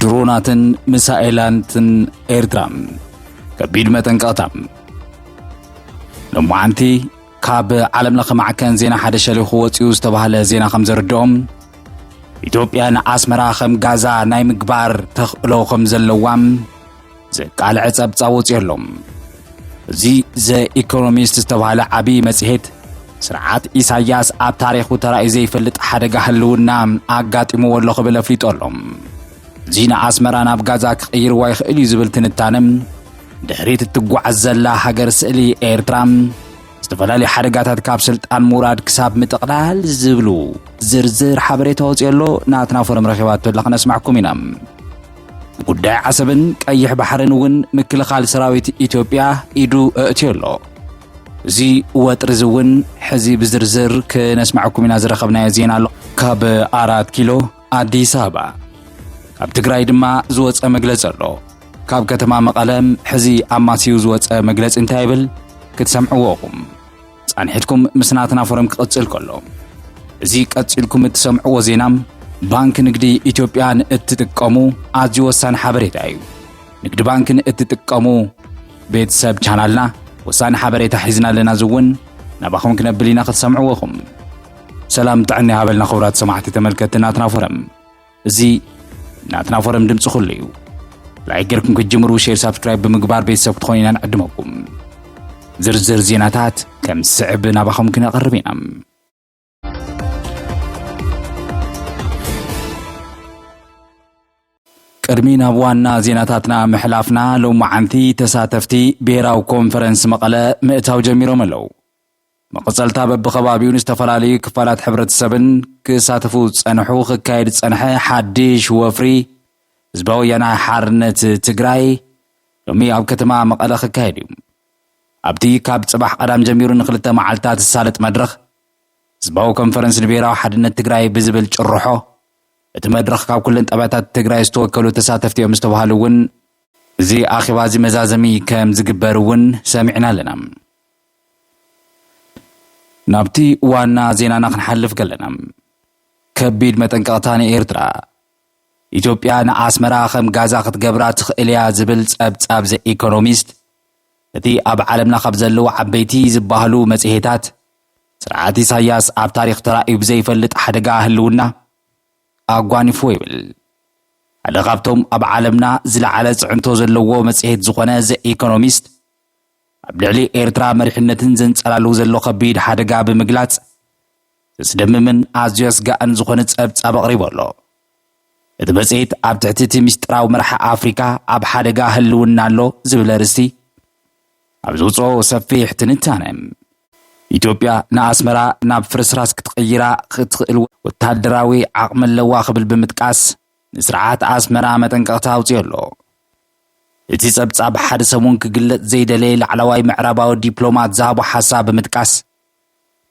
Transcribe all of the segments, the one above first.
ድሮናትን ሚሳኤላትን ኤርትራ ከቢድ መጠንቀቕታ ሎማዓንቲ ካብ ዓለም ለኸ ማዕከን ዜና ሓደ ሸሊኹ ወፂኡ ዝተባህለ ዜና ከም ዘርድኦም ኢትዮጵያ ንኣስመራ ከም ጋዛ ናይ ምግባር ተኽእሎ ከም ዘለዋም ዘቃልዐ ጸብጻብ ወጺኦ ኣሎ። እዚ ዘኢኮኖሚስት ዝተባህለ ዓብዪ መጽሔት ስርዓት ኢሳያስ ኣብ ታሪኹ ተራእዩ ዘይፈልጥ ሓደጋ ህልውና ኣጋጢምዎ ኣሎ ክብል ኣፍሊጦ ኣሎ። እዚ ንኣስመራ ናብ ጋዛ ክቕይርዋ ይኽእል እዩ ዝብል ትንታነ ድሕሪት እትጓዓዝ ዘላ ሃገር ስእሊ ኤርትራ ዝተፈላለዩ ሓደጋታት ካብ ስልጣን ምውራድ ክሳብ ምጥቕላል ዝብሉ ዝርዝር ሓበሬታ ወፂኦ ኣሎ ናትና ፎረም ረኺባቶ ኣላ ክነስማዕኩም ኢና ጉዳይ ዓሰብን ቀይሕ ባሕርን እውን ምክልኻል ሰራዊት ኢትዮጵያ ኢዱ እእትዮ ኣሎ። እዚ ወጥሪ እዚ እውን ሕዚ ብዝርዝር ክነስማዕኩም ኢና ዝረኸብናዮ ዜና ኣሎ። ካብ ኣራት ኪሎ ኣዲስ ኣበባ ካብ ትግራይ ድማ ዝወፀ መግለፂ ኣሎ። ካብ ከተማ መቐለም ሕዚ ኣማስዩ ዝወፀ መግለፂ እንታይ ይብል ክትሰምዕዎ ኢኹም። ጻንሒትኩም ምስ ናትና ፎረም ክቕጽል ከሎ እዚ ቀጺልኩም እትሰምዕዎ ዜና ባንኪ ንግዲ ኢትዮጵያ ንእትጥቀሙ ኣዝዩ ወሳኒ ሓበሬታ እዩ። ንግዲ ባንኪ ንእትጥቀሙ ቤተሰብ ቻናልና ወሳኒ ሓበሬታ ሒዝና ኣለና እዚ እውን ናባኹም ክነብል ኢና ክትሰምዕዎ ኢኹም። ሰላም ጥዕና ይሃበልና ክቡራት ሰማዕቲ ተመልከትቲ ናትና ፎረም እዚ ናትና ፎረም ድምፂ ኩሉ እዩ ላይክ ጌርኩም ክትጅምሩ ሼር ሳብስክራይብ ብምግባር ቤተሰብ ክትኾኑ ኢና ንዕድመኩም ዝርዝር ዜናታት ከም ዝስዕብ ናባኹም ክነቕርብ ኢና ቅድሚ ናብ ዋና ዜናታትና ምሕላፍና ሎመዓንቲ ተሳተፍቲ ብሄራዊ ኮንፈረንስ መቐለ ምእታው ጀሚሮም ኣለዉ መቐጸልታ በብኸባቢኡን ዝተፈላለዩ ክፋላት ሕብረተሰብን ክሳተፉ ዝጸንሑ ክካየድ ዝጸንሐ ሓድሽ ወፍሪ ህዝባዊ ወያነ ሓርነት ትግራይ ሎሚ ኣብ ከተማ መቐለ ክካየድ እዩ። ኣብቲ ካብ ጽባሕ ቀዳም ጀሚሩ ንክልተ መዓልትታት ዝሳለጥ መድረኽ ህዝባዊ ኮንፈረንስ ንብሔራዊ ሓድነት ትግራይ ብዝብል ጭርሖ እቲ መድረኽ ካብ ኩለን ጣብያታት ትግራይ ዝተወከሉ ተሳተፍቲ እዮም ዝተባሃሉ እውን እዚ ኣኼባ እዚ መዛዘሚ ከም ዝግበር እውን ሰሚዕና ኣለና። ናብቲ ዋና ዜናና ክንሓልፍ ከለና ከቢድ መጠንቀቕታ ንኤርትራ፣ ኢትዮጵያ ንኣስመራ ከም ጋዛ ክትገብራ ትኽእል እያ ዝብል ጸብጻብ ዘ ኢኮኖሚስት እቲ ኣብ ዓለምና ካብ ዘለዉ ዓበይቲ ዝበሃሉ መጽሔታት ስርዓት ኢሳያስ ኣብ ታሪኽ ተራእዩ ብዘይፈልጥ ሓደጋ ህልውና ኣጓኒፍዎ ይብል ሓደ ካብቶም ኣብ ዓለምና ዝለዓለ ፅዕንቶ ዘለዎ መጽሔት ዝኾነ ዘ ኢኮኖሚስት ኣብ ልዕሊ ኤርትራ መሪሕነትን ዘንጸላሉ ዘሎ ከቢድ ሓደጋ ብምግላጽ፣ ዘስደምምን ኣዝዩ ኣስጋእን ዝኾነ ጸብጻብ ኣቕሪቡ ኣሎ። እቲ መጽሔት ኣብ ትሕቲ እቲ ምስጢራዊ መራሒ ኣፍሪቃ ኣብ ሓደጋ ህልውና ኣሎ ዝብል ኣርእስቲ ኣብ ዝውጽኦ ሰፊሕ ትንታነ፣ ኢትዮጵያ ንኣስመራ ናብ ፍርስራስ ክትቕይራ እትኽእል ወተሃደራዊ ዓቕሚ ኣለዋ ክብል ብምጥቃስ፣ ንስርዓት ኣስመራ መጠንቀቕታ ኣውጺኡ ኣሎ። እቲ ጸብጻብ ሓደ ሰሙን ክግለጽ ዘይደለየ ላዕለዋይ ምዕራባዊ ዲፕሎማት ዝሃቦ ሓሳብ ብምጥቃስ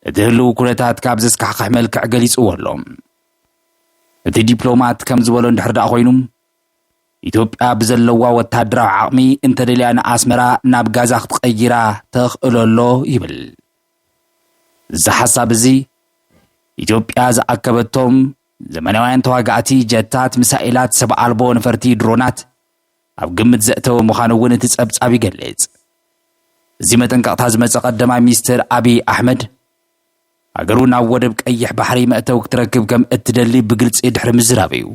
እቲ ህልው ኩነታት ካብ ዘስካሕክሕ መልክዕ ገሊጽዎ ኣሎ። እቲ ዲፕሎማት ከም ዝበሎ እንድሕር ደኣ ኮይኑ ኢትዮጵያ ብዘለዋ ወታደራዊ ዓቕሚ እንተደልያ ንኣስመራ ናብ ጋዛ ክትቐይራ ተኽእሎ ኣሎ ይብል። እዚ ሓሳብ እዚ ኢትዮጵያ ዝኣከበቶም ዘመናውያን ተዋጋእቲ ጀታት፣ ሚሳኤላት፣ ሰብ ኣልቦ ነፈርቲ፣ ድሮናት፣ ኣብ ግምት ዘእተወ ምዃኑ እውን እቲ ጸብጻብ ይገልጽ። እዚ መጠንቀቕታ ዝመጸ ቀዳማይ ሚኒስትር ኣብይ ኣሕመድ፣ ሃገሩ ናብ ወደብ ቀይሕ ባሕሪ መእተዊ ክትረክብ ከም እትደሊ ብግልጺ ድሕሪ ምዝራብ እዩ።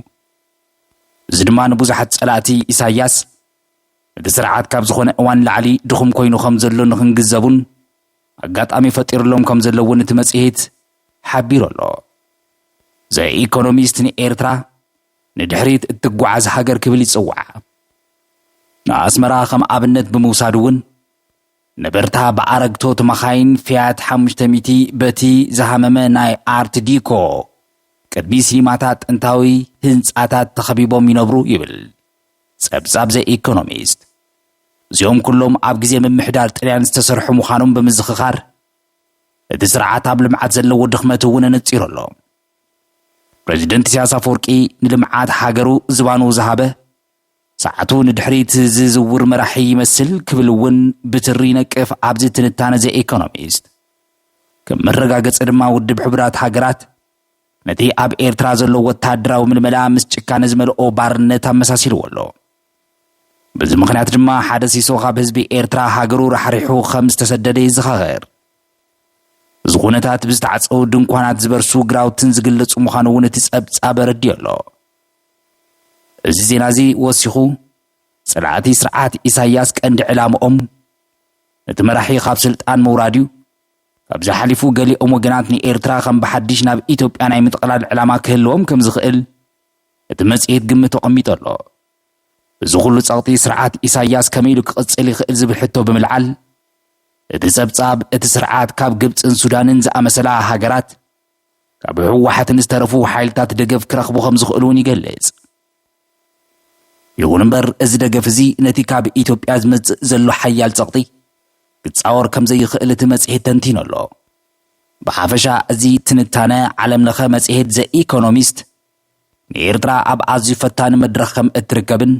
እዚ ድማ ንብዙሓት ጸላእቲ ኢሳያስ እቲ ስርዓት ካብ ዝኾነ እዋን ላዕሊ ድኹም ኮይኑ ከም ዘሎ ንክንግዘቡን ኣጋጣሚ ፈጢሩሎም ከም ዘሎ እውን እቲ መጽሔት ሓቢሩ ኣሎ። ዘ ኢኮኖሚስት ንኤርትራ ንድሕሪት እትጓዓዝ ሃገር ክብል ይጽውዓ። ንኣስመራ ከም ኣብነት ብምውሳድ እውን ነበርታ ብኣረግቶት መኻይን ፊያት ሓሙሽተ ሚእቲ በቲ ዝሃመመ ናይ ኣርት ዲኮ ቅድሚ ሲኒማታት ጥንታዊ ህንጻታት ተኸቢቦም ይነብሩ ይብል ጸብጻብ ዘ ኢኮኖሚስት። እዚኦም ኩሎም ኣብ ግዜ ምምሕዳር ጥልያን ዝተሰርሑ ምዃኖም ብምዝኽኻር፣ እቲ ስርዓት ኣብ ልምዓት ዘለዎ ድኽመት እውን ኣነጺሩ ኣሎ። ፕረዚደንት ኢሳያስ ኣፈወርቂ ንልምዓት ሃገሩ ዝባኑ ዝሃበ፣ ሰዓቱ ንድሕሪት ዝዝውር መራሒ ይመስል ክብል እውን ብትሪ ይነቅፍ ኣብዚ ትንታነ ዘ ኢኮኖሚስት። ከም መረጋገጺ ድማ ውድብ ሕቡራት ሃገራት ነቲ ኣብ ኤርትራ ዘሎ ወተሃደራዊ ምልመላ ምስ ጭካነ ዝመልኦ ባርነት ኣመሳሲልዎ ኣሎ። በዚ ምኽንያት ድማ ሓደ ሲሶ ካብ ህዝቢ ኤርትራ ሃገሩ ራሕሪሑ ከም ዝተሰደደ ይዘኻኸር። እዚ ኩነታት ብዝተዓጸዉ ድንኳናት ዝበርሱ ግራውትን ዝግለጹ ምዃኑ እውን እቲ ጸብጻብ ኣረዲኦ ኣሎ። እዚ ዜና እዚ ወሲኹ ጸላእቲ ስርዓት ኢሳያስ ቀንዲ ዕላምኦም ነቲ መራሒ ካብ ስልጣን ምውራድ እዩ። ካብዚ ሓሊፉ ገሊኦም ወገናት ንኤርትራ ከም ብሓድሽ ናብ ኢትዮጵያ ናይ ምጥቕላል ዕላማ ክህልዎም ከም ዝኽእል እቲ መጽሔት ግምት ኣቐሚጡ ኣሎ። እዚ ኹሉ ጸቕጢ ስርዓት ኢሳይያስ ከመይ ኢሉ ክቕጽል ይኽእል ዝብል ሕቶ ብምልዓል፣ እቲ ጸብጻብ፣ እቲ ስርዓት ካብ ግብጽን ሱዳንን ዝኣመሰላ ሃገራት፣ ካብ ህወሓትን ዝተረፉ ሓይልታት ደገፍ ክረኽቡ ከም ዝኽእሉ እውን ይገልጽ። ይኹን እምበር እዚ ደገፍ እዚ ነቲ ካብ ኢትዮጵያ ዝመጽእ ዘሎ ሓያል ጸቕጢ ክጻወር ከም ዘይኽእል እቲ መጽሔት ተንቲኑ ኣሎ። ብሓፈሻ እዚ ትንታነ ዓለምለኸ መጽሔት ዘ ኢኮኖሚስት ንኤርትራ ኣብ ኣዝዩ ፈታኒ መድረኽ ከም እትርከብን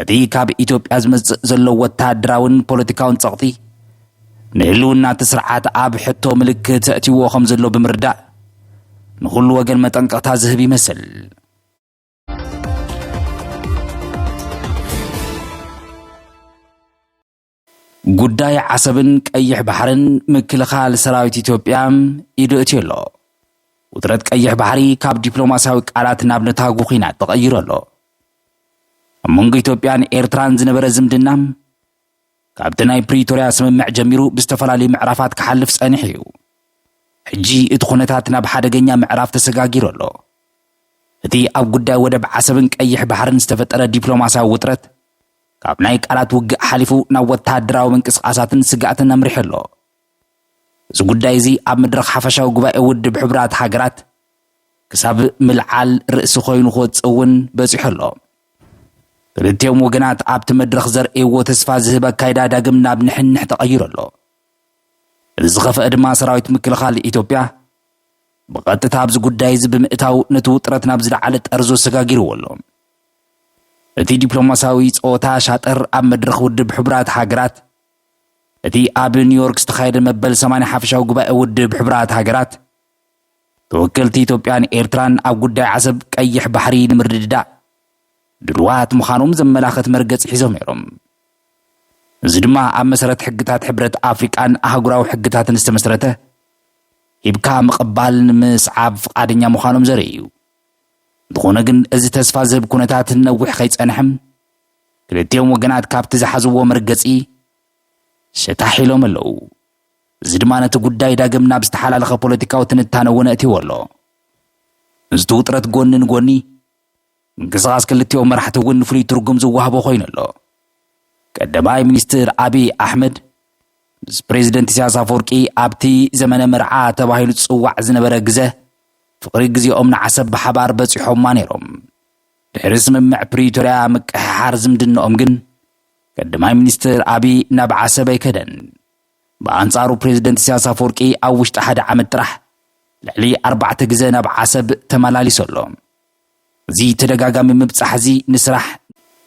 እቲ ካብ ኢትዮጵያ ዝመጽእ ዘሎ ወተሃደራውን ፖለቲካውን ጸቕጢ ንህልውና እቲ ስርዓት ኣብ ሕቶ ምልክት ኣእትይዎ ከም ዘሎ ብምርዳእ ንኹሉ ወገን መጠንቀቕታ ዝህብ ይመስል። ጉዳይ ዓሰብን ቀይሕ ባሕርን ምክልኻል ሰራዊት ኢትዮጵያ ኢዱ እእትዩ ኣሎ። ውጥረት ቀይሕ ባሕሪ ካብ ዲፕሎማስያዊ ቃላት ናብ ነታጉ ኲናት ተቐይሩ ኣሎ። ኣብ መንጎ ኢትዮጵያን ኤርትራን ዝነበረ ዝምድና ካብቲ ናይ ፕሪቶርያ ስምምዕ ጀሚሩ ብዝተፈላለዩ ምዕራፋት ክሓልፍ ጸኒሑ እዩ። ሕጂ እቲ ኩነታት ናብ ሓደገኛ ምዕራፍ ተሰጋጊሩ ኣሎ። እቲ ኣብ ጉዳይ ወደብ ዓሰብን ቀይሕ ባሕርን ዝተፈጠረ ዲፕሎማስያዊ ውጥረት ካብ ናይ ቃላት ውግእ ሓሊፉ ናብ ወተሃደራዊ ምንቅስቓሳትን ስግኣትን ኣምሪሑ ኣሎ። እዚ ጉዳይ እዚ ኣብ መድረኽ ሓፈሻዊ ጉባኤ ውድብ ሕቡራት ሃገራት ክሳብ ምልዓል ርእሲ ኮይኑ ክወጽእ እውን በጺሑ ኣሎ። ክልቲኦም ወገናት ኣብቲ መድረኽ ዘርእይዎ ተስፋ ዝህብ ኣካይዳ ዳግም ናብ ንሕንሕ ተቐይሩ ኣሎ። እቲ ዝኸፍአ ድማ ሰራዊት ምክልኻል ኢትዮጵያ ብቐጥታ ኣብዚ ጉዳይ እዚ ብምእታው ነቲ ውጥረት ናብ ዝለዓለ ጠርዙ ኣሰጋጊርዎ ኣሎ። እቲ ዲፕሎማስያዊ ጸወታ ሻጥር ኣብ መድረኽ ውድብ ሕቡራት ሃገራት እቲ ኣብ ኒውዮርክ ዝተኻየደ መበል ሰማንያ ሓፈሻዊ ጉባኤ ውድብ ሕቡራት ሃገራት ተወከልቲ ኢትዮጵያን ኤርትራን ኣብ ጉዳይ ዓሰብ ቀይሕ ባሕሪ ንምርድዳእ ድሩዋት ምዃኖም ዘመላኽት መርገጺ ሒዞም ነይሮም። እዚ ድማ ኣብ መሰረት ሕግታት ሕብረት ኣፍሪቃን ኣህጉራዊ ሕግታትን ዝተመስረተ ሂብካ ምቕባል ንምስዓብ ፍቓደኛ ምዃኖም ዘርኢ እዩ። እንተኾነ ግን እዚ ተስፋ ዝህብ ኩነታት ንነዊሕ ከይጸንሐ ክልቲኦም ወገናት ካብቲ ዝሓዝዎ መርገጺ ሸታሕ ኢሎም ኣለዉ። እዚ ድማ ነቲ ጉዳይ ዳግም ናብ ዝተሓላለኸ ፖለቲካዊ ትንታነ እውን ኣእትይዎ ኣሎ። ምስቲ ውጥረት ጎኒ ንጎኒ ምንቅስቓስ ክልቲኦም መራሕቲ እውን ፍሉይ ትርጉም ዝዋህቦ ኮይኑ ኣሎ። ቀዳማይ ሚኒስትር ኣብይ ኣሕመድ ምስ ፕሬዚደንት ኢሳያስ ኣፈወርቂ ኣብቲ ዘመነ መርዓ ተባሂሉ ዝጽዋዕ ዝነበረ ግዘ ፍቕሪ ግዜኦም ንዓሰብ ብሓባር በጺሖማ ነይሮም። ድሕሪ ስምምዕ ፕሪቶርያ ምቅሕሓር ዝምድነኦም ግን ቀዳማይ ሚኒስትር ኣቢይ ናብ ዓሰብ ኣይከደን። ብኣንጻሩ ፕሬዝደንት ኢሳያስ ኣፈወርቂ ኣብ ውሽጢ ሓደ ዓመት ጥራሕ ልዕሊ ኣርባዕተ ግዘ ናብ ዓሰብ ተመላሊሱ ኣሎ። እዚ ተደጋጋሚ ምብጻሕ እዚ ንስራሕ፣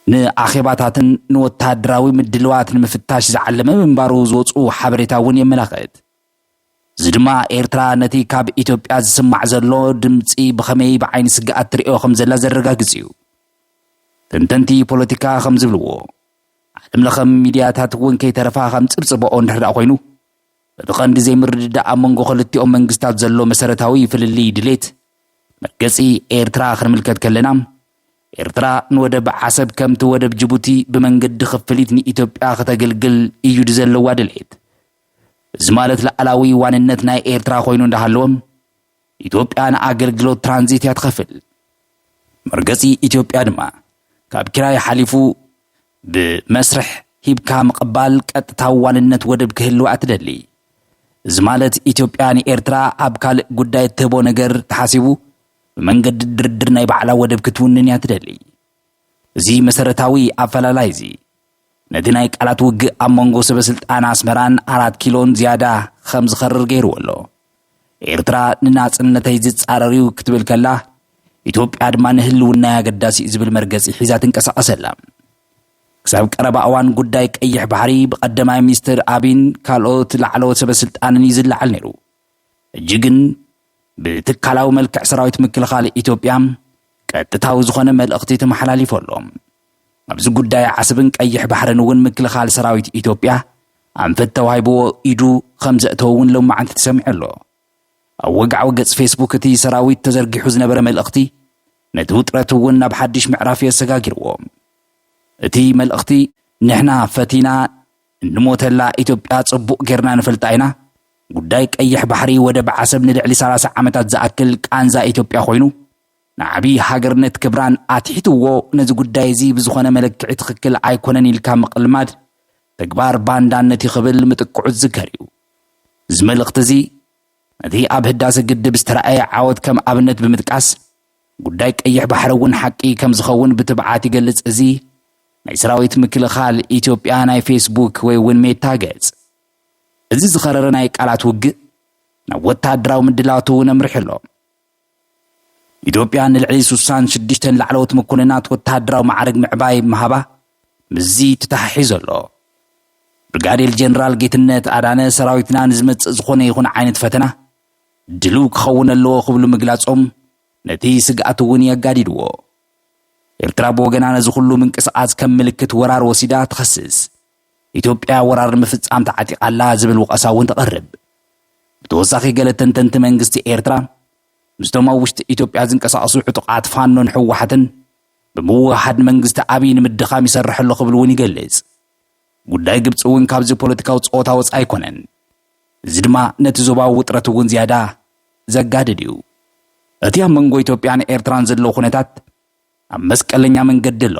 ንኣኼባታትን ንወተሃደራዊ ምድልዋት ንምፍታሽ ዝዓለመ ምንባሩ ዝወጽኡ ሓበሬታ እውን የመላኽት። እዚ ድማ ኤርትራ ነቲ ካብ ኢትዮጵያ ዝስማዕ ዘሎ ድምጺ ብኸመይ ብዓይኒ ስግኣት ትርእዮ ከም ዘላ ዘረጋግጽ እዩ። ተንተንቲ ፖለቲካ ከም ዝብልዎ፣ ዓለም ለኸ ሚድያታት እውን ከይተረፋ ከም ጽብጽበኦ እንድሕርዳኣ ኮይኑ፣ እቲ ቀንዲ ዘይምርድዳእ ኣብ መንጎ ክልቲኦም መንግስታት ዘሎ መሰረታዊ ፍልልይ ድሌት መርገጺ ኤርትራ ክንምልከት ከለና፣ ኤርትራ ንወደብ ዓሰብ ከምቲ ወደብ ጅቡቲ ብመንገዲ ክፍሊት ንኢትዮጵያ ክተገልግል እዩ ድዘለዋ ድሌት። እዚ ማለት ላኣላዊ ዋንነት ናይ ኤርትራ ኮይኑ እንዳሃለወ ኢትዮጵያ ንኣገልግሎት ትራንዚት እያ ትኸፍል። መርገጺ ኢትዮጵያ ድማ ካብ ኪራይ ሓሊፉ ብመስርሕ ሂብካ ምቕባል ቀጥታዊ ዋንነት ወደብ ክህልዋ እትደሊ። እዚ ማለት ኢትዮጵያ ንኤርትራ ኣብ ካልእ ጉዳይ እትህቦ ነገር ተሓሲቡ ብመንገዲ ድርድር ናይ ባዕላ ወደብ ክትውንን እያ ትደሊ። እዚ መሰረታዊ ኣፈላላይ'ዚ፣ ነቲ ናይ ቃላት ውግእ ኣብ መንጎ ሰበስልጣን ኣስመራን ኣራት ኪሎን ዝያዳ ኸም ዝኸርር ገይርዎ ኣሎ። ኤርትራ ንናጽነተይ ዝጻረር'ዩ ክትብል ከላ፣ ኢትዮጵያ ድማ ንህልውናይ ኣገዳሲ'ዩ ዝብል መርገጺ ሒዛ ትንቀሳቐስ ኣላ። ክሳብ ቀረባ እዋን ጉዳይ ቀይሕ ባሕሪ ብቀደማይ ሚኒስተር ኣቢን ካልኦት ላዕለዎት ሰበስልጣንን እዩ ዝለዓል ነይሩ። ሕጂ ግን ብትካላዊ መልክዕ ሰራዊት ምክልኻል ኢትዮጵያ ቀጥታዊ ዝኾነ መልእኽቲ ተመሓላሊፉ ኣሎ። ኣብዚ ጉዳይ ዓሰብን ቀይሕ ባሕርን እውን ምክልኻል ሰራዊት ኢትዮጵያ ኣንፈት ተዋሂብዎ ኢዱ ከም ዘእተወ እውን ሎማዕንቲ ተሰሚዑ ኣሎ። ኣብ ወግዓዊ ገጽ ፌስቡክ እቲ ሰራዊት ተዘርጊሑ ዝነበረ መልእኽቲ ነቲ ውጥረት እውን ናብ ሓድሽ ምዕራፍ እዮ ኣሰጋጊርዎ። እቲ መልእኽቲ ንሕና ፈቲና እንሞተላ ኢትዮጵያ ጽቡቕ ጌርና ንፈልጣ ኢና። ጉዳይ ቀይሕ ባሕሪ ወደብ ዓሰብ ንልዕሊ ሰላሳ ዓመታት ዝኣክል ቃንዛ ኢትዮጵያ ኮይኑ፣ ንዓቢ ሃገርነት ክብራን ኣትሒትዎ ነዚ ጉዳይ እዚ ብዝኾነ መለክዒ ትኽክል ኣይኮነን ኢልካ ምቕልማድ ተግባር ባንዳነት እዩ ክብል ምጥቅዑ ዝዝከር እዩ። እዚ መልእኽቲ እዚ ነቲ ኣብ ህዳሰ ግድብ ዝተራእየ ዓወት ከም ኣብነት ብምጥቃስ ጉዳይ ቀይሕ ባሕሪ እውን ሓቂ ከምዝኸውን ብትብዓት ይገልጽ እዚ ናይ ሰራዊት ምክልኻል ኢትዮጵያ ናይ ፌስቡክ ወይ እውን ሜታ ገጽ። እዚ ዝኸረረ ናይ ቃላት ውግእ ናብ ወተሃደራዊ ምድላዋት እውን ኣምሪሑ ኣሎ። ኢትዮጵያ ንልዕሊ ስሳን ሽዱሽተን ላዕለዎት መኮንናት ወተሃደራዊ ማዕርግ ምዕባይ ምሃባ ምስዚ ተተሓሒዞ ኣሎ። ብርጋዴር ጀነራል ጌትነት ኣዳነ ሰራዊትና ንዝመጽእ ዝኾነ ይኹን ዓይነት ፈተና ድሉው ክኸውን ኣለዎ ክብሉ ምግላጾም ነቲ ስግኣት እውን የጋዲድዎ። ኤርትራ ብወገና ነዚ ኩሉ ምንቅስቓስ ከም ምልክት ወራር ወሲዳ ትኸስስ። ኢትዮጵያ ወራር ንምፍጻም ተዓጢቓ ኣላ ዝብል ወቐሳ እውን ተቐርብ። ብተወሳኺ ገለ ተንተንቲ መንግስቲ ኤርትራ ምስቶም ኣብ ውሽጢ ኢትዮጵያ ዝንቀሳቐሱ ዕጡቓት ፋኖን ህወሓትን ብምውህሃድ መንግስቲ ኣብይ ንምድኻም ይሰርሕ ኣሎ ክብል እውን ይገልጽ። ጉዳይ ግብጺ እውን ካብዚ ፖለቲካዊ ጸወታ ወጻኢ ኣይኮነን። እዚ ድማ ነቲ ዞባዊ ውጥረት እውን ዝያዳ ዘጋድድ እዩ። እቲ ኣብ መንጎ ኢትዮጵያን ኤርትራን ዘሎ ኩነታት ኣብ መስቀለኛ መንገዲ ኣሎ።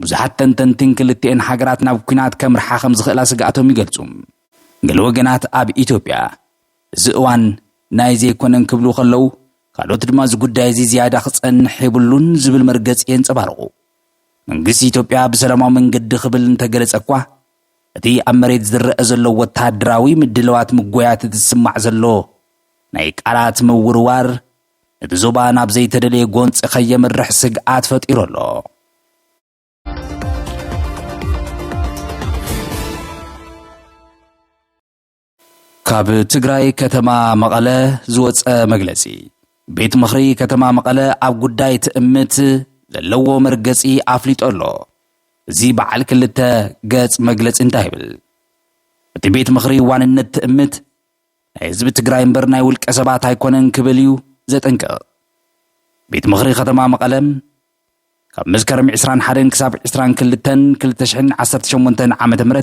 ብዙሓት ተንተንቲ ንክልቲኤን ሃገራት ናብ ኲናት ከምርሓ ከም ዝኽእላ ስግኣቶም ይገልጹ። ገለ ወገናት ኣብ ኢትዮጵያ እዚ እዋን ናይዚ ኣይኮነን ክብሉ ከለዉ፣ ካልኦት ድማ እዚ ጉዳይ እዚ ዝያዳ ክጸንሕ የብሉን ዝብል መርገጺ የንጸባርቑ። መንግስቲ ኢትዮጵያ ብሰላማዊ መንገዲ ክብል እንተገለጸ እኳ፣ እቲ ኣብ መሬት ዝረኣ ዘሎ ወተሃደራዊ ምድልዋት ምጎያት እቲ ዝስማዕ ዘሎ ናይ ቃላት ምውርዋር፣ ነቲ ዞባ ናብ ዘይተደለየ ጎንጺ ከየምርሕ ስግኣት ፈጢሩ ኣሎ። ካብ ትግራይ ከተማ መቐለ ዝወፀ መግለፂ ቤት ምኽሪ ከተማ መቐለ ኣብ ጉዳይ ትእምት ዘለዎ መርገፂ ኣፍሊጦ ኣሎ። እዚ በዓል ክልተ ገፅ መግለፂ እንታይ ይብል? እቲ ቤት ምኽሪ ዋንነት ትእምት ናይ ህዝቢ ትግራይ እምበር ናይ ውልቀ ሰባት ኣይኮነን ክብል እዩ ዘጠንቅቕ። ቤት ምኽሪ ከተማ መቐለ ካብ መስከረም 21 ክሳብ 22 2018 ዓ ም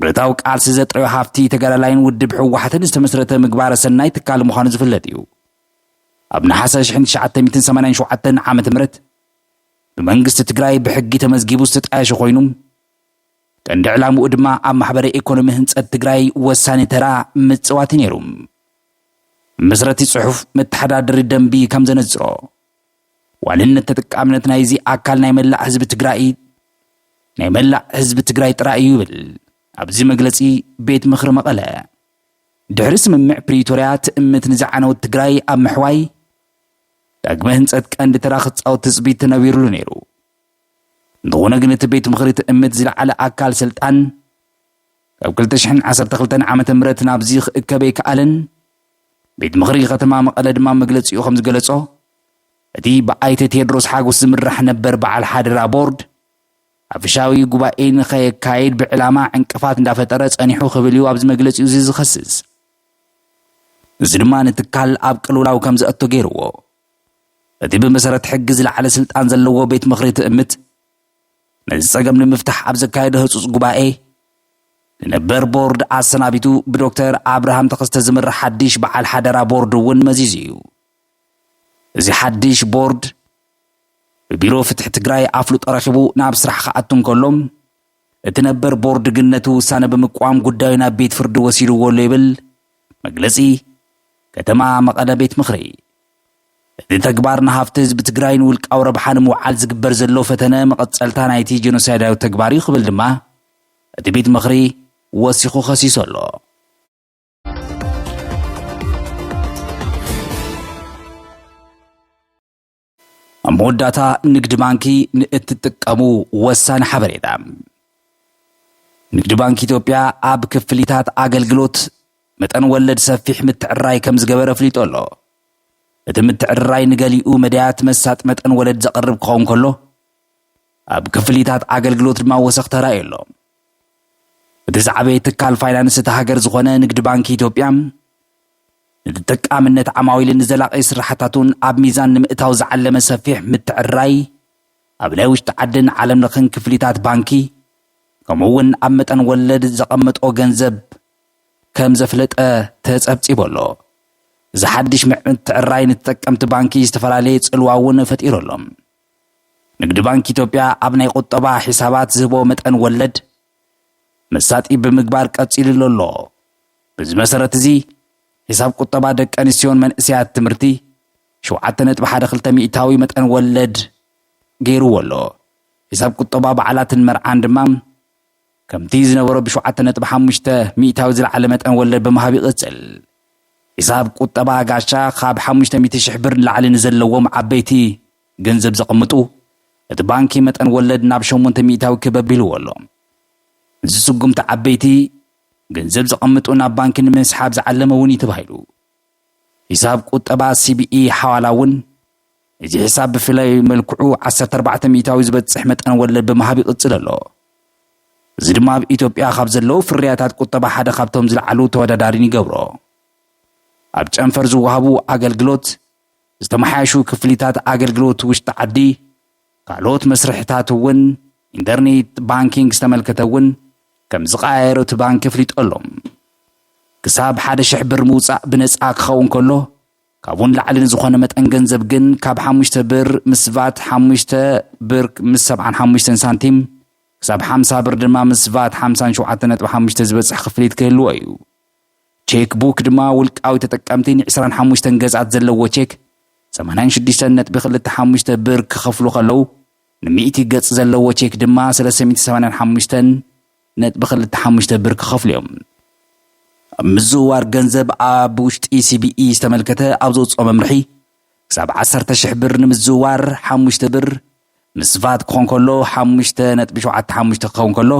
ብረታዊ ቃልሲ ዘጥረዮ ሃፍቲ ተጋዳላይን ውድብ ህወሓትን ዝተመስረተ ምግባረ ሰናይ ትካል ምዃኑ ዝፍለጥ እዩ። ኣብ ነሓሰ ሽሕን ትሽዓተ ሚእትን ሰማንያን ሸውዓተን ዓመተ ምህረት ብመንግስቲ ትግራይ ብሕጊ ተመዝጊቡ ዝተጣየሸ ኮይኑ ቀንዲ ዕላምኡ ድማ ኣብ ማሕበረ ኢኮኖሚ ህንፀት ትግራይ ወሳኒ ተራ ምፅዋት ነይሩ። መስረቲ ፅሑፍ መተሓዳደሪ ደንቢ ከም ዘነፅሮ ዋንነት ተጠቃምነት ናይዚ ኣካል ናይ መላእ ህዝቢ ትግራይ ናይ መላእ ህዝቢ ትግራይ ጥራይ እዩ ይብል ኣብዚ መግለፂ ቤት ምኽሪ መቐለ። ድሕሪ ስምምዕ ፕሪቶርያ ትእምት ንዝዓነወት ትግራይ ኣብ ምሕዋይ ዳግመ ህንፀት ቀንዲ ተራ ክፃወት ትፅቢት ተነቢሩሉ ነይሩ። እንተኾነ ግን እቲ ቤት ምኽሪ ትእምት ዝለዓለ ኣካል ስልጣን ካብ 2012 ዓ ም ናብዚ ክእከብ ኣይከኣለን። ቤት ምኽሪ ከተማ መቐለ ድማ መግለፂኡ ከምዝገለፆ እቲ ብኣይተ ቴድሮስ ሓጎስ ዝምራሕ ነበር በዓል ሓደራ ቦርድ ኣፍሻዊ ጉባኤ ንኸየካየድ ብዕላማ ዕንቅፋት እንዳፈጠረ ፀኒሑ ክብል እዩ ኣብዚ መግለፂኡ እዚ ዝኸስስ እዚ ድማ ንትካል ኣብ ቅልውላው ከም ዘእቶ ገይርዎ እቲ ብመሰረት ሕጊ ዝለዓለ ስልጣን ዘለዎ ቤት ምኽሪ ትእምት ነዚ ጸገም ንምፍታሕ ኣብ ዘካየዶ ህጹጽ ጉባኤ ንነበር ቦርድ ኣሰናቢቱ ብዶክተር ኣብርሃም ተኸስተ ዝምራሕ ሓድሽ በዓል ሓደራ ቦርድ እውን መዚዙ እዩ። እዚ ሓድሽ ቦርድ ብቢሮ ፍትሒ ትግራይ ኣፍልጦ ረኺቡ ናብ ስራሕ ክኣቱ እንከሎ እቲ ነበር ቦርድ ግን ነቲ ውሳነ ብምቅዋም ጉዳዩ ናብ ቤት ፍርዲ ወሲድዎ ኣሎ ይብል መግለጺ ከተማ መቐለ ቤት ምኽሪ እዚ ተግባር ንሃፍቲ ህዝቢ ትግራይ ንውልቃዊ ረብሓ ንምውዓል ዝግበር ዘሎ ፈተነ መቐፀልታ ናይቲ ጀኖሳይዳዊ ተግባር እዩ ክብል ድማ እቲ ቤት ምኽሪ ወሲኹ ከሲሱ ኣሎ። ኣብ መወዳእታ ንግድ ባንኪ ንእትጥቀሙ ወሳኒ ሓበሬታ ንግድ ባንኪ ኢትዮጵያ ኣብ ክፍሊታት ኣገልግሎት መጠን ወለድ ሰፊሕ ምትዕርራይ ከም ዝገበረ ኣፍሊጡ ኣሎ። እቲ ምትዕርራይ ንገሊኡ መዳያት መሳጢ መጠን ወለድ ዘቕርብ ክኸውን ከሎ፣ ኣብ ክፍሊታት ኣገልግሎት ድማ ወሰኽ ተራእዩ ኣሎ። እቲ ዝዓበየ ትካል ፋይናንስ እታ ሃገር ዝኾነ ንግድ ባንኪ ኢትዮጵያ ንተጠቃምነት ዓማዊል ንዘላቒ ስራሕታቱን ኣብ ሚዛን ንምእታው ዝዓለመ ሰፊሕ ምትዕርራይ ኣብ ናይ ውሽጢ ዓድን ዓለም ለኽን ክፍሊታት ባንኪ ከምኡ እውን ኣብ መጠን ወለድ ዘቐመጦ ገንዘብ ከም ዘፍለጠ ተጸብጺቡ ኣሎ። እዚ ሓድሽ ምዕትዕራይ ንተጠቀምቲ ባንኪ ዝተፈላለየ ጽልዋ እውን ፈጢሩ ኣሎ። ንግድ ባንኪ ኢትዮጵያ ኣብ ናይ ቁጠባ ሒሳባት ዝህቦ መጠን ወለድ መሳጢ ብምግባር ቀጺሉሉ ኣሎ። በዚ መሰረት እዚ ሒሳብ ቁጠባ ደቂ ኣንስትዮን መንእሰያት ትምህርቲ ሸውዓተ ነጥቢ ሓደ ክልተ ሚእታዊ መጠን ወለድ ገይሩዎ ኣሎ። ሒሳብ ቁጠባ በዓላትን መርዓን ድማ ከምቲ ዝነበሮ ብሸውዓተ ነጥቢ ሓሙሽተ ሚእታዊ ዝለዓለ መጠን ወለድ ብምሃብ ይቕጽል። ሒሳብ ቁጠባ ጋሻ ካብ ሓሙሽተ ሚእቲ ሽሕ ብር ንላዕሊ ንዘለዎም ዓበይቲ ገንዘብ ዘቐምጡ እቲ ባንኪ መጠን ወለድ ናብ ሸሞንተ ሚእታዊ ክብ ኣቢልዎ ኣሎ። እዚ ስጉምቲ ዓበይቲ ገንዘብ ዘቐምጡ ናብ ባንኪ ንምስሓብ ዝዓለመ እውን እዩ ተባሂሉ። ሒሳብ ቁጠባ ሲቢኢ ሓዋላ እውን እዚ ሒሳብ ብፍላይ መልክዑ ዓሰርተ ኣርባዕተ ሚኢታዊ ዝበፅሕ መጠን ወለድ ብምሃብ ይቕፅል ኣሎ። እዚ ድማ ኣብ ኢትዮጵያ ካብ ዘለዉ ፍርያታት ቁጠባ ሓደ ካብቶም ዝለዓሉ ተወዳዳሪን ይገብሮ። ኣብ ጨንፈር ዝወሃቡ ኣገልግሎት ዝተመሓየሹ ክፍሊታት ኣገልግሎት ውሽጢ ዓዲ፣ ካልኦት መስርሕታት እውን ኢንተርኔት ባንኪንግ ዝተመልከተ እውን ከምዝቐያየሮ እቲ ባንኪ ኣፍሊጡ ኣሎ። ክሳብ ሓደ ሽሕ ብር ምውፃእ ብነፃ ክኸውን ከሎ ካብኡ ንላዕሊ ንዝኾነ መጠን ገንዘብ ግን ካብ ሓሙሽተ ብር ምስ ቫት ሓሙሽተ ብር ምስ ሰብዓን ሓሙሽተን ሳንቲም ክሳብ ሓምሳ ብር ድማ ምስ ቫት ሓምሳን ሸውዓተ ነጥቢ ሓሙሽተ ዝበፅሕ ክፍሊት ክህልዎ እዩ። ቼክ ቡክ ድማ ውልቃዊ ተጠቀምቲ ን ዕስራን ሓሙሽተን ገዝኣት ዘለዎ ቼክ ሰማንያን ሽዱሽተን ነጥቢ ክልተ ሓሙሽተ ብር ክኸፍሉ ከለው ን ሚእቲ ገጽ ዘለዎ ቼክ ድማ ሰለስተ ሚእቲ ሰማንያን ሓሙሽተን ነጥቢ ክልተ ሓሙሽተ ብር ክኸፍሉ እዮም። ኣብ ምዝውዋር ገንዘብ ኣብ ውሽጢ ሲቢኢ ዝተመልከተ ኣብ ዘውጽኦ መምርሒ ክሳብ ዓሰርተ ሽሕ ብር ንምዝውዋር ሓሙሽተ ብር ምስ ቫት ክኾን ከሎ ሓሙሽተ ነጥቢ ሸውዓተ ሓሙሽተ ክኸውን ከሎ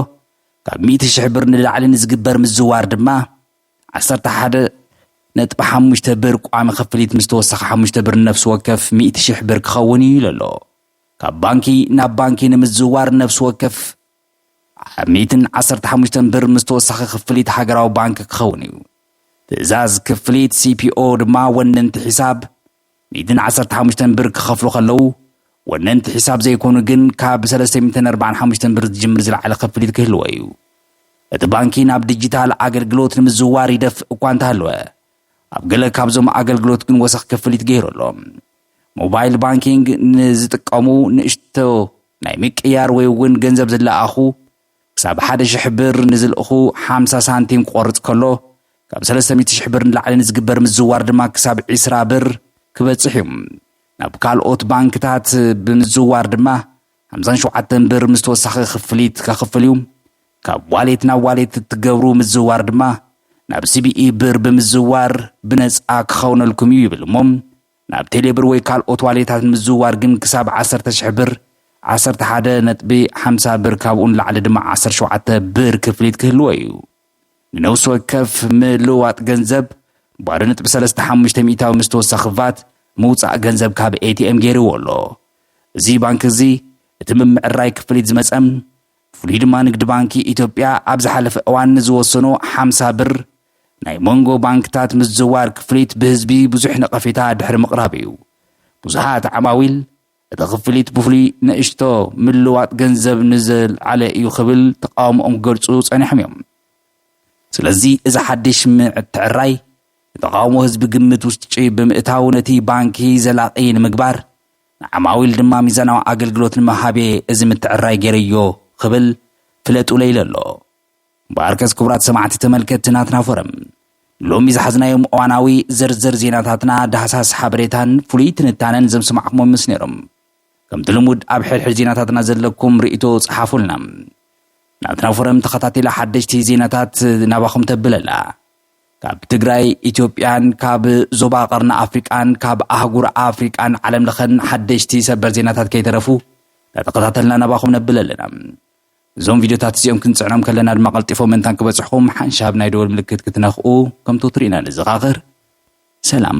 ካብ ሚእቲ ሽሕ ብር ንላዕሊ ንዝግበር ምዝዋር ድማ ዓሰርተ ሓደ ነጥቢ ሓሙሽተ ብር ቋሚ ክፍሊት ምስ ተወሳኺ ሓሙሽተ ብር ንነፍሲ ወከፍ ሚእቲ ሽሕ ብር ክኸውን እዩ ኢሉ ኣሎ። ካብ ባንኪ ናብ ባንኪ ንምዝዋር ነፍሲ ወከፍ ኣብ ሚእትን ዓሰርተ ሓሙሽተን ብር ምስ ተወሳኺ ክፍሊት ሃገራዊ ባንኪ ክኸውን እዩ። ትእዛዝ ክፍሊት ሲፒኦ ድማ ወነንቲ ሒሳብ ሚእትን ዓሰርተ ሓሙሽተን ብር ክኸፍሉ ከለዉ፣ ወነንቲ ሒሳብ ዘይኮኑ ግን ካብ ሰለስተ ሚእትን ኣርባዓን ሓሙሽተን ብር ዝጅምር ዝለዓለ ክፍሊት ክህልዎ እዩ። እቲ ባንኪ ናብ ዲጂታል ኣገልግሎት ንምዝውዋር ይደፍእ እኳ እንተሃለወ፣ ኣብ ገለ ካብዞም ኣገልግሎት ግን ወሰኽ ክፍሊት ገይሩ ኣሎ። ሞባይል ባንኪንግ ንዝጥቀሙ ንእሽቶ ናይ ምቅያር ወይ'ውን ገንዘብ ዝለኣኹ፣ ክሳብ ሓደ ሽሕ ብር ንዝልእኹ ሓምሳ ሳንቲም ክቖርጽ ከሎ፣ ካብ ሰለስተ ሚእቲ ሽሕ ብር ንላዕሊ ንዝግበር ምዝዋር ድማ ክሳብ ዕስራ ብር ክበጽሕ እዩ። ናብ ካልኦት ባንክታት ብምዝዋር ድማ ሓምሳን ሸውዓተን ብር ምስ ተወሳኺ ክፍሊት ከኽፍል እዩ። ካብ ዋሌት ናብ ዋሌት እትገብሩ ምዝዋር ድማ ናብ ሲቢኢ ብር ብምዝዋር ብነጻ ክኸውነልኩም እዩ ይብል እሞ ናብ ቴሌብር ወይ ካልኦት ዋሌታት ንምዝውዋር ግን ክሳብ ዓሰርተ ሽሕ ብር፣ ዓሰርተ ሓደ ነጥቢ ሓምሳ ብር፣ ካብኡ ንላዕሊ ድማ ዓሰርተ ሸውዓተ ብር ክፍሊት ክህልዎ እዩ። ንነብሲ ወከፍ ምልውዋጥ ገንዘብ፣ ባዶ ነጥቢ ሰለስተ ሓሙሽተ ሚእታዊ ምስ ተወሳኺ ቫት፣ ምውጻእ ገንዘብ ካብ ኤቲኤም ገይርዎ ኣሎ። እዚ ባንኪ እዚ፣ እቲ ምምዕርራይ ክፍሊት ዝመጸም፣ ብፍሉይ ድማ ንግዲ ባንኪ ኢትዮጵያ ኣብ ዝሓለፈ እዋን ንዝወሰኖ ሓምሳ ብር፣ ናይ መንጎ ባንክታት ምዝዋር ክፍሊት ብህዝቢ ብዙሕ ነቐፌታ ድሕሪ ምቕራብ እዩ። ብዙሓት ዓማዊል፣ እቲ ክፍሊት ብፍሉይ ንእሽቶ ምልዋጥ ገንዘብ ንዝልዓለ እዩ ክብል ተቓውሞኦም ክገልጹ ጸኒሖም እዮም። ስለዚ እዚ ሓድሽ ምትዕርራይ ንተቓውሞ ህዝቢ ግምት ውሽጢ ብምእታው ነቲ ባንኪ ዘላቒ ንምግባር ንዓማዊል ድማ ሚዛናዊ ኣገልግሎት ንምሃቤ እዚ ምትዕርራይ ገይረዮ ክብል ፍለጡለይ ኢሉ ኣሎ። እምበኣርከስ ክቡራት ሰማዕቲ ተመልከትቲ ናትና ፎረም ሎሚ ዝሓዝናዮም እዋናዊ ዝርዝር ዜናታትና ዳህሳስ ሓበሬታን ፍሉይ ትንታነን ዘምስማዕኩሞም ምስ ነይሮም ከምቲ ልሙድ ኣብ ሕድሕድ ዜናታትና ዘለኩም ርእይቶ ጽሓፉልና ናትና ፎረም ተኸታቲላ ሓደሽቲ ዜናታት ናባኹም ተብለላ ካብ ትግራይ ኢትዮጵያን ካብ ዞባ ቀርኒ ኣፍሪቃን ካብ ኣህጉር ኣፍሪቃን ዓለም ለኸን ሓደሽቲ ሰበር ዜናታት ከይተረፉ ተተኸታተልና ናባኹም ነብል ኣለና እዞም ቪድዮታት እዚኦም ክንጽዕኖም ከለና ድማ ቀልጢፎም ምእንታን ክበጽሕኹም ሓንሻብ ናይ ደወል ምልክት ክትነኽኡ ከም ተወትሩ ኢና ንዘኻኽር። ሰላም።